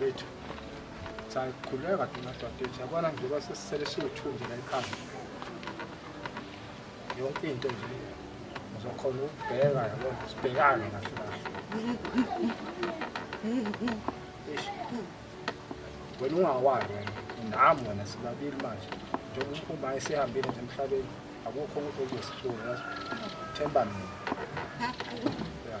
Bethu. Sakhuleka thina dadethu yabona nje basesisele siwuthunzi la ekhaya. Yonke into nje ngizokhona ukubheka yabona sibhekane kahle kahle. Eish. Wena ungawali wena nami wena sibabili manje njengoba uma esihambile nje emhlabeni akukho ukuthi okuyisihlungu yazi themba mina. Yeah.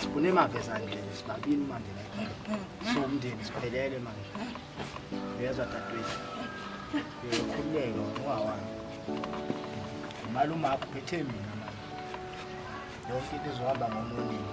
sibune emavezane nje sibabini manje so umndeni siphelele manje uyezwa dadwethu uyokhululeka ungawami imali umakho phethe mina manje yonke into izohamba ngomuningi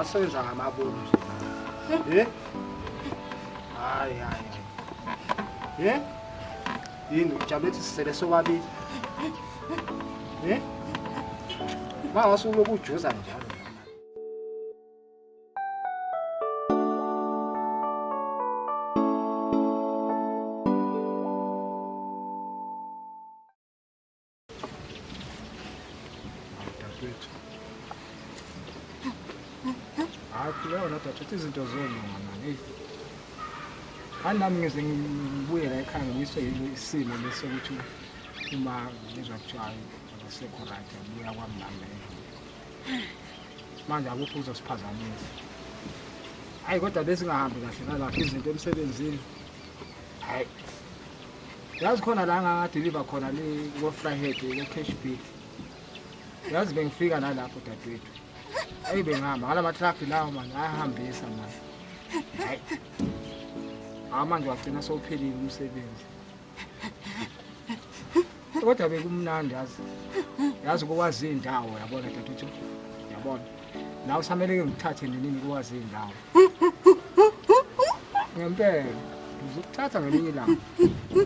asenza ngamaboni nje eh? hayi hayi eh? yini ujabule ukuthi sisele sobabili eh? mangase uloku ujuza njalo thatha izinto zolunga mani eyi hayi nami ngize ngibuyela ekhaya ngiswe isimo lesi ukuthi uma ngizwa kuthiwa akasekho right abuya kwami nami manje akukho uzosiphazamisa hayi kodwa besingahambi kahle nalapha izinto emsebenzini hayi yazi khona la ngangadeliva khona ko-fryhead ko-cash bit yazi bengifika nalapho dadewethu eyi bengihamba ngala matraki lawo mani ayahambisa mani hayi hawu manje wagcina sowuphelile umsebenzi kodwa bekumnandi yazi yazi ukwazi iy'ndawo yabona daduthu yabona nawe usameleke ngithathe nenini ukwazi iy'ndawo ngempela ngizokuthatha ngelinye ilanga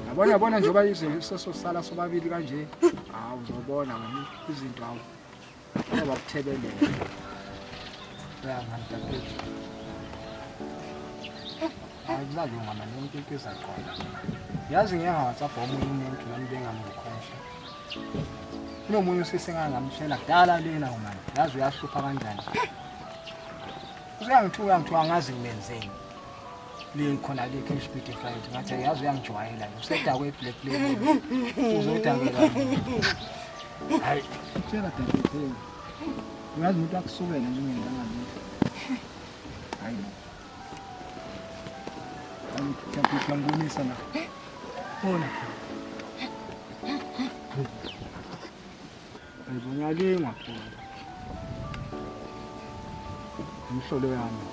yabona yabona njengoba izinto sesosala sobabili kanje hawu uzobona wena izinto awu akulazonga mani yonke into izaqonda yazi ngeke ngawhatsapp omunye umuntu nami bengamkhosha kunomunye usisi engangamtshela kudala lena umani yazi uyahlupha kanjani useyangithuka ngithiwa angazi ngimenzeni likhona le cash bid flight ngathi yazi uyangijwayela lo sedakwe black label uzodakela hayi tshela dadethu uyazi umuntu akusukela nje ngenganga lutho hayi no angithatha ngibonisa na bona Ngibonyalinga phela. Umhlolo yami.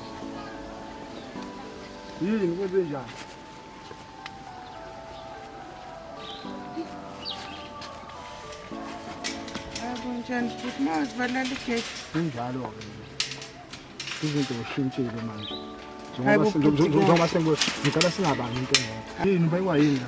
Yini kwenze njani? Kunjani futhi mazivalala igate. Kunjalo-ke. Izinto zishintshile manje. Hayi bo, Njengoba bhuti, sengiwe ngicela singabangi into engekho. Yini ubaywa yini la?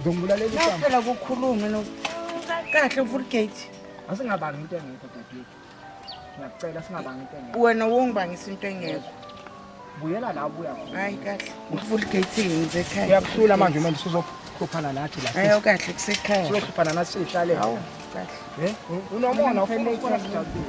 Ngizombulalelinaphela kukhulume no kahle ufulgate asingabangi into engekho dadethu ngiyacela singabangi into engekho wena wongibangisa into engekho buyela la ubuya khona hayi kahle ufulgate yenze ekhaya uyakuhlula manje manje sizokhuphana nathi la ayo kahle kusekhaya sizokhuphana nathi sihlale hawu kahle eh unomona ufuna ukubona sijabule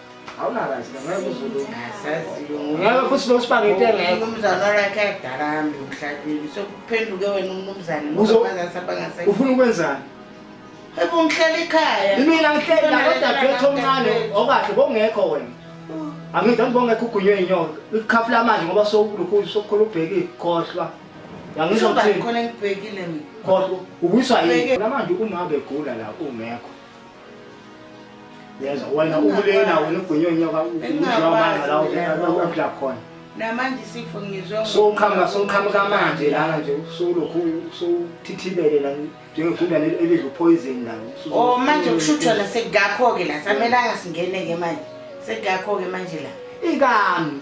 ngeke futhi nosibanga into engekho umnumzane olakhe adala hambe emhlabeni sokuphenduke wena umnumzane ufuna ukwenzani ebe ungihlala ekhaya imina ngihleli nalodadewethu omncane okahle bongekho wena angidla ngibongekho ugunywe inyoka ikhafu lamanje ngoba sokulukhulu sokukhula ubhekile khohlwa yangizokhohlwa ubuyiswa yini namanje uma begula la ungekho yezwa wena ukulena wena ugunyonyoka uamanga la uphila khona namanje isifo ngizwe soqhamuka soqhamuka manje lana nje usulokhu usuthithibele la njengegundane elidla upoison la oh manje kushuthwa la sekugakho-ke la samelanga singene-ke manje sekugakho-ke manje la ikami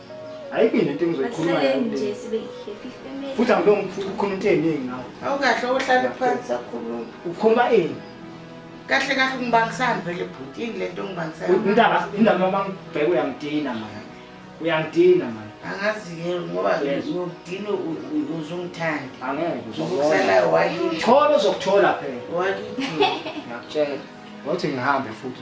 ayikho into engizoyikhuluma futhi angibe ngikhuluma into eningi ngawo awukahle ohlale phansi akhuluma ukhuluma ini kahle kahle ungibangisani vele bhuti yini le nto ungibangisaniindaba indaba noma ngibheke uyangidina mani uyangidina mani angazi-ke ngoba ngokudina uzungithandi angekeokusalayo wakithola ozokuthola phela wakithola ngiyakutshela wathi ngihambe futhi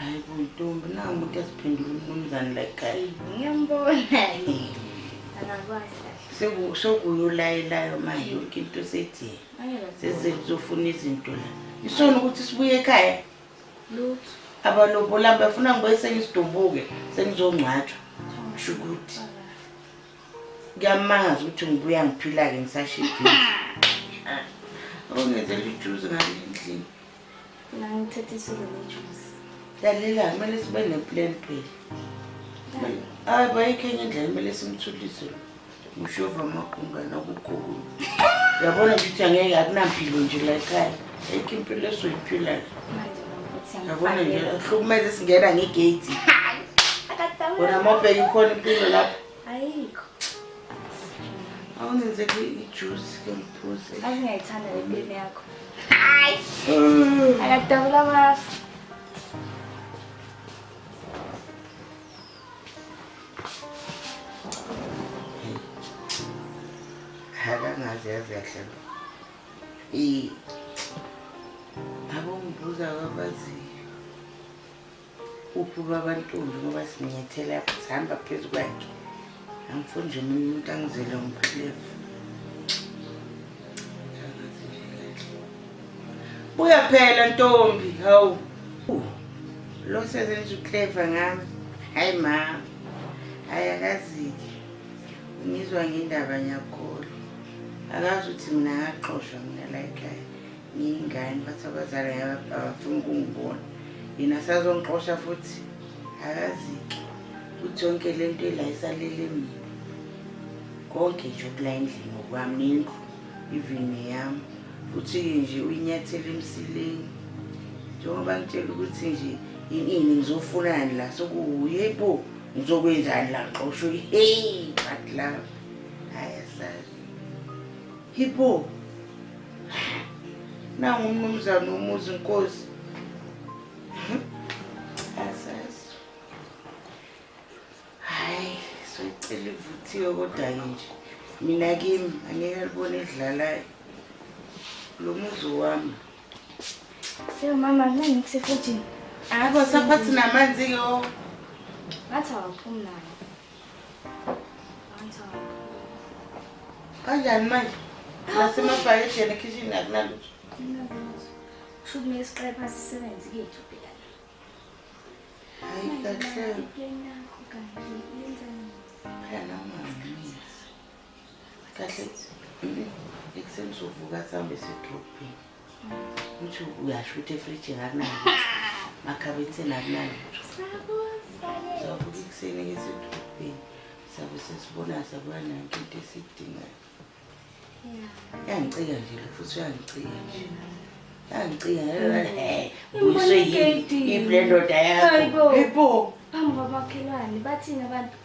hayi kuntombi na umuntu esiphendula umnumzane like hayi ngiyambona angakwazi sokuyulayelayo ma yonke into sethi sesizofuna izinto la isona ukuthi sibuye ekhaya lutho abalobola bafuna ngibuye sengisidumbuke sengizongcwatshwa kusho ukuthi kuyamangaza ukuthi ngibuya ngiphila-ke ngisashidile awungenzela ijuzi ngale ndlini Ngangithethe isolo nejuice. Lalela, kumele sibe neplan phela. Hayi bayikho enye indlela kumele simthulise lo. Ushova amagungana kukhulu. Uyabona ukuthi angeke akunampilo nje la ekhaya. Ayikho impilo esoyiphila la. Manje nokuthi Yabona nje angifakele. ahlukumeze singena ngegate. Hayi. Akadawu. Wena mobheke ikhona impilo lapho. Ayikho. Awungenze ijuice ke ngiphuze. Azi ngiyayithanda le mpilo yakho. Hayi. Mm. Akadabula amafu. Akangazi yazi kahle lo. I abongibuza kwabaziyo. Uphi ubaba Ntombi ngoba simenyethele apho sihamba phezu kwakhe. Angifuni nje mina umuntu angizele ngiphilefu. Buya phela Ntombi, hawu. Lo sezenza uclever ngami. Hayi ma. Hayi akazike. Ngizwa ngendaba ngiyakholwa. Akazi ukuthi mina ngaxoshwa mina la ekhaya. Ngiyingane bathi abazali abafuni ukungibona. Yena sazongixosha futhi akazike ukuthi yonke le nto ila isalele mina konke nje okula endlini ngokwami nendlu even neyami futhi-ke nje uyinyathela emsileni njengoba ngitshela ukuthi nje inini ngizofunani la sokuye bo ngizokwenzani la xosho heyi but love hayi asazi Hipho. Nangu umnumzane umuzi inkosi. Asazi. Hayi, soyicela ivuthiwe kodwa nje. Mina kimi angeke libone idlalayo. Lo muzi wami. Yo mama, mina ngikusefujini. Abo saphathi namanzi ke o. Ngathi awaphumi nayo. Kanjani manje? Nasemabhayedeni ekhishini akunalutho. Kusho kumele isiqepha sisebenzi kethu phela. Hayi kahle. Phela manje. Kahle. Ekuseni sovuka sihambe sidrobheni. uthi uyasho ukuthi efrijini akunayo makhabetheni akunayo savuka ekuseni ngesedolobheni sabe sesibona sabuya nanto into esiyidingayo yangicika nje futhi uyangicika nje yangicika uyiswe yini iblendoda yakho ibo phambi kwamakhelwane bathini abantu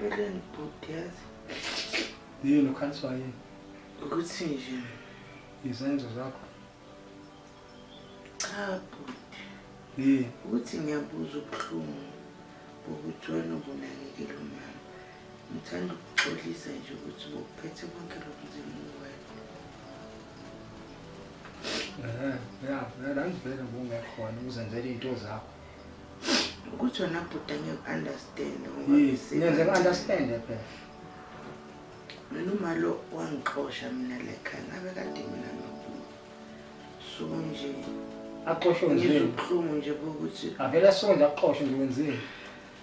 empeleni bhuti yazi yini ukhaliswa yini ukuthi nje izenzo zakho cha bhuti yini ukuthi ngiyabuza ubuhlungu bokuthi wena ubunakekela umama ngithanda ukuxolisa nje ukuthi bokuphethe konke lokhu nzima uwena ya ya la ngibheke ngokungekhona uzenzela iy'nto zakho ukuthi wena bhuti angiku-understand ngenze ku-understand phela mina umalo wangixosha mina lekhaya ngabe kade mina nobhuti so nje axoshwe ngizubuhlungu nje bokuthi avele asonde axoshwe nje wenzeni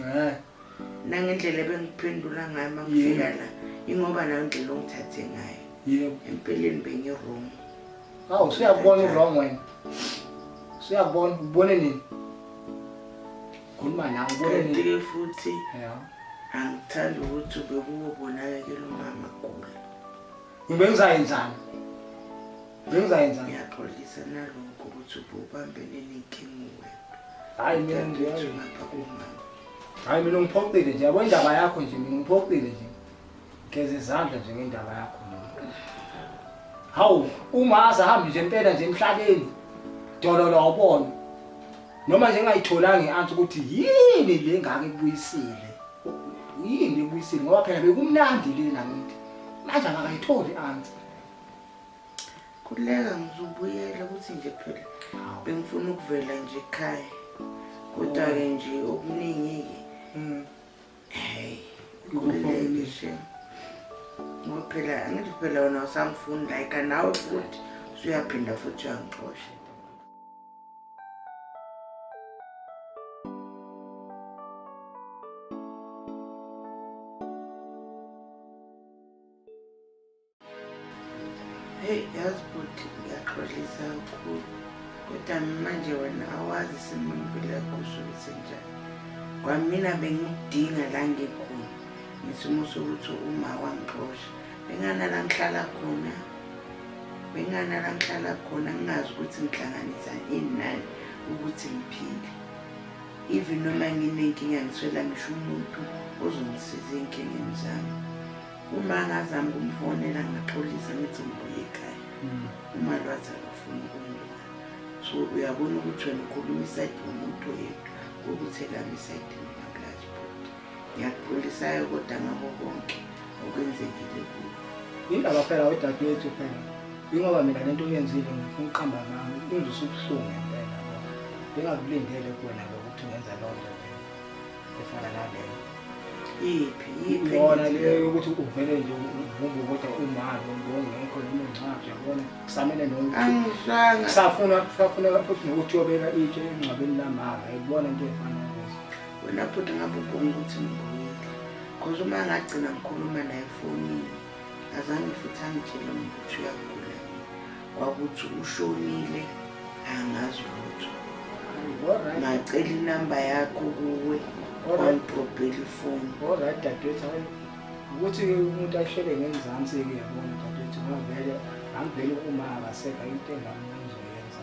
Eh. Nangendlela ebengiphendula ngayo uma kufika la ingoba nayo indlela ongithathe ngayo. Yebo. Empeleni bengi-wrong. Hawu siyakubona u-wrong wena. Siyakubona ubone nini? Khuluma nawe ubone nini? Kanti-ke futhi angithandi ukuthi ubekuwobonakekela umama gula. Ngibengizayenzani? Ngibengizayenzani? Ngiyaxolisa nalokho ukuthi ububambene nenkinga wena. Hayi mina ngiyazi lapha kumama. Hayi mina ngiphoxile nje yabo indaba yakho nje mina ngiphoxile nje. Geza izandla nje ngendaba yakho. Hawu uma azahambe nje impela nje emhlabeni. Dololo awubona. noma nje engayitholanga i-answer ukuthi yini le ngake kubuyisile yini ebuyisile ngoba phela bekumnandi le nakithi manje akakayitholi i-answer khululeka ngizobuyela ukuthi nje phela bengifuna ukuvela nje ekhaya kodwa-ke oh. nje okuningi-ke hmm. heyi khululeke she ngoba phela angithi phela wona usangifuni like nawe futhi usuyaphinda futhi uyangixosha Hey, yazi bhuti ngiyaxolisa kakhulu kodwa manje wena awazi isimo impilo yakusuke senjani kwamina bengidinga la ngikhona ngesimo sokuthi uma wangixosha Bengana la ngihlala khona bengana la ngihlala khona ngingazi ukuthi ngihlanganisa ini nani ukuthi ngiphile even noma nginenkinga ngiswela ngisho umuntu ozongisiza ey'nkingeni zami uma ngazama ukumfonela ngaxolisa ngithi ngibuye ekhaya mm. uma lwathi akafuni ukumbuka so uyabona ukuthi wena ukhuluma isayidi womuntu oyedwa ukuthi ekamisa idini ngiyakuphulisayo kodwa ngako konke okwenzekile kuyo yindaba phela wedadewethu phela yingoba mina le nto uyenzile ngifuna uqamba ngami ingizwisa ubuhlungu ngempela bengakulindele kuwena lo ukuthi ungenza loo nto efana naleyo iphi iphi yona leyo yokuthi uvele nje uvumbe kodwa umalo ngongekho noma ungcwabi yabona kusamele nokusafuna kusafuna futhi nokuthi uyobeka itshe engcwabeni lamama yibona into efana wena bhuti ngabe ubonga ukuthi ngibuyile cause uma ngagcina ngikhuluma naye efonini azange futhi angitshele ukuthi uyagula kwakuthi ushonile angazi lutho ngacela inamba yakho kuwe wangidrobhela ifoni olright dadewethu hayi ukuthi umuntu ahlele ngenzansi-ke yabona dadewethu ngavele angivele uma akasekho into engamnanzoyenza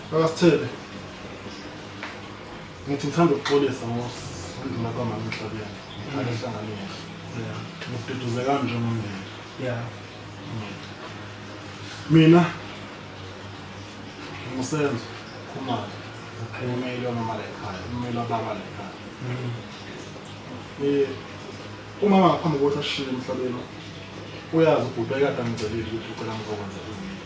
Akasithele. Ngithi ngithanda ukuxolisa ngosindima kwamama emhlabeni. Ngithanda ehlanganile. Yeah. Ngiduduze kanje ngomndeni. Yeah. Mina ngimusenzo khumalo. Ngimele wamama la ekhaya. Ngimele wababa la ekhaya. Eh umama ngaphambi kokuthi ashiye emhlabeni uyazi ubhuti ekade angicelile ukuthi ucela ngizokwenza izinto.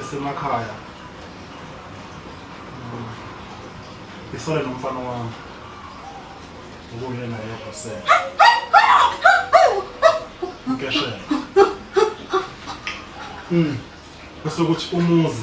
esemakhaya isole mm. nomfana wami ukuyena yedwa se ngeshela mm bese ukuthi umuzi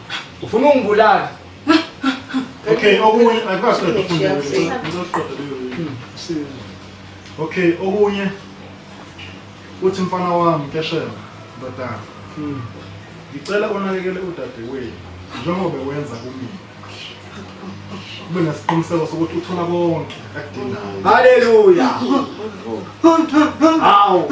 Ufuna ungibulala. Okay, okunye akwazi ukuqoqa Okay, okunye uthi mfana wami keshela ndodana. Hmm. Ngicela unakekele udadewethu njengoba wenza kumina. Ube nesiqiniseko sokuthi uthola konke akudingayo. Haleluya. Hawu.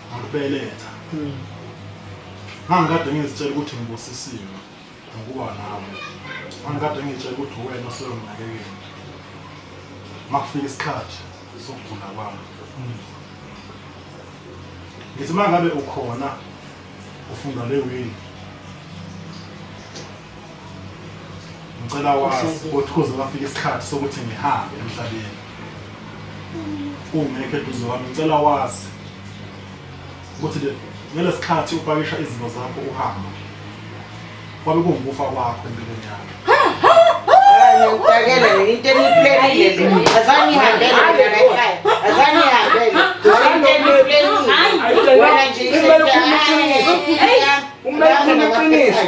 Ngikubeletha. Hmm. Ngangikade ngizitshela ukuthi ngibusisiwe ngokuba nawe. Ngangikade ngizitshela ukuthi uwena oseyonginakekela. Makufika isikhathi sokugula kwami. Hmm. Ngithi mangabe ukhona ufunda le wini ngicela wazi ukuthi kuze kwafika isikhathi sokuthi ngihambe emhlabeni ungekho eduze wami ngicela wazi ukuthi ngelesikhathi upakisha izinto zakho uhamba kwabe kungukufa kwakho empilweni yakho Ngiyakela into eniplenile. Azani ihambele mina ekhaya. Azani ihambele. Into eniplenile. Wena nje isebenza. Hey, umele ukhulume iqiniso.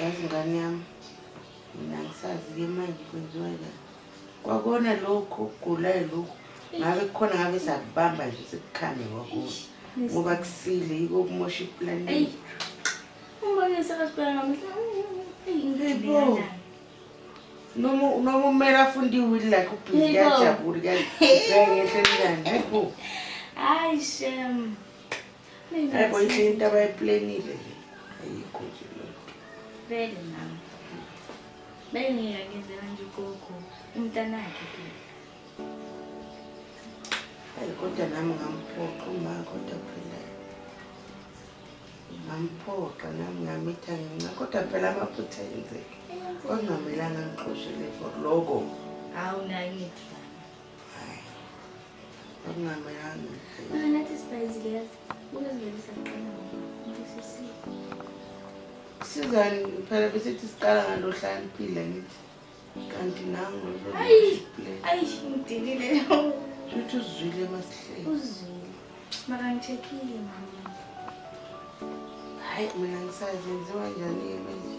yazi ngane yami mina ngisazi-ke manje kwenziwa njani kwakona lokhu ukugulayo lokhu ngabe kukhona ngabe sakubamba nje sekukhande kwakona ngoba kusile yiko kumosha ipulani noma umele afunde iwili lakhe ubhizi kuyajabula kuyangehle njani hayi bo hayi shem Hayibo inhle into abayiplenile le. Ayikho nje lento. Vele nami. Bengeke ngenzela nje ugogo umntanakhe ke. Hayi kodwa nami ngamphoqa uma kodwa phela. Ngamphoqa nami ngamitha ngenxa kodwa phela amaphutha enzeke. Ongamelanga ngixoshe le for logo. Hawu nayo ngithi. sizani phela besithi siqala ngalo hlaniphile ngithi kanti nangu ayishimudilile uthi uzwile emasihleni uzwile makangithekile mama hayi mina ngisazenziwa njani-ke manje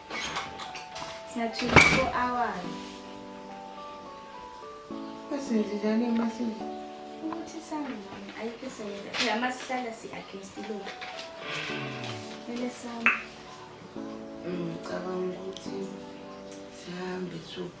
Sina 24 hours. Basenzenjani emasini? Ukuthi sangani ayikho esenza. Phela uma sihlala si-against law. Kumele sami. Ngicabanga ukuthi sihambe suku.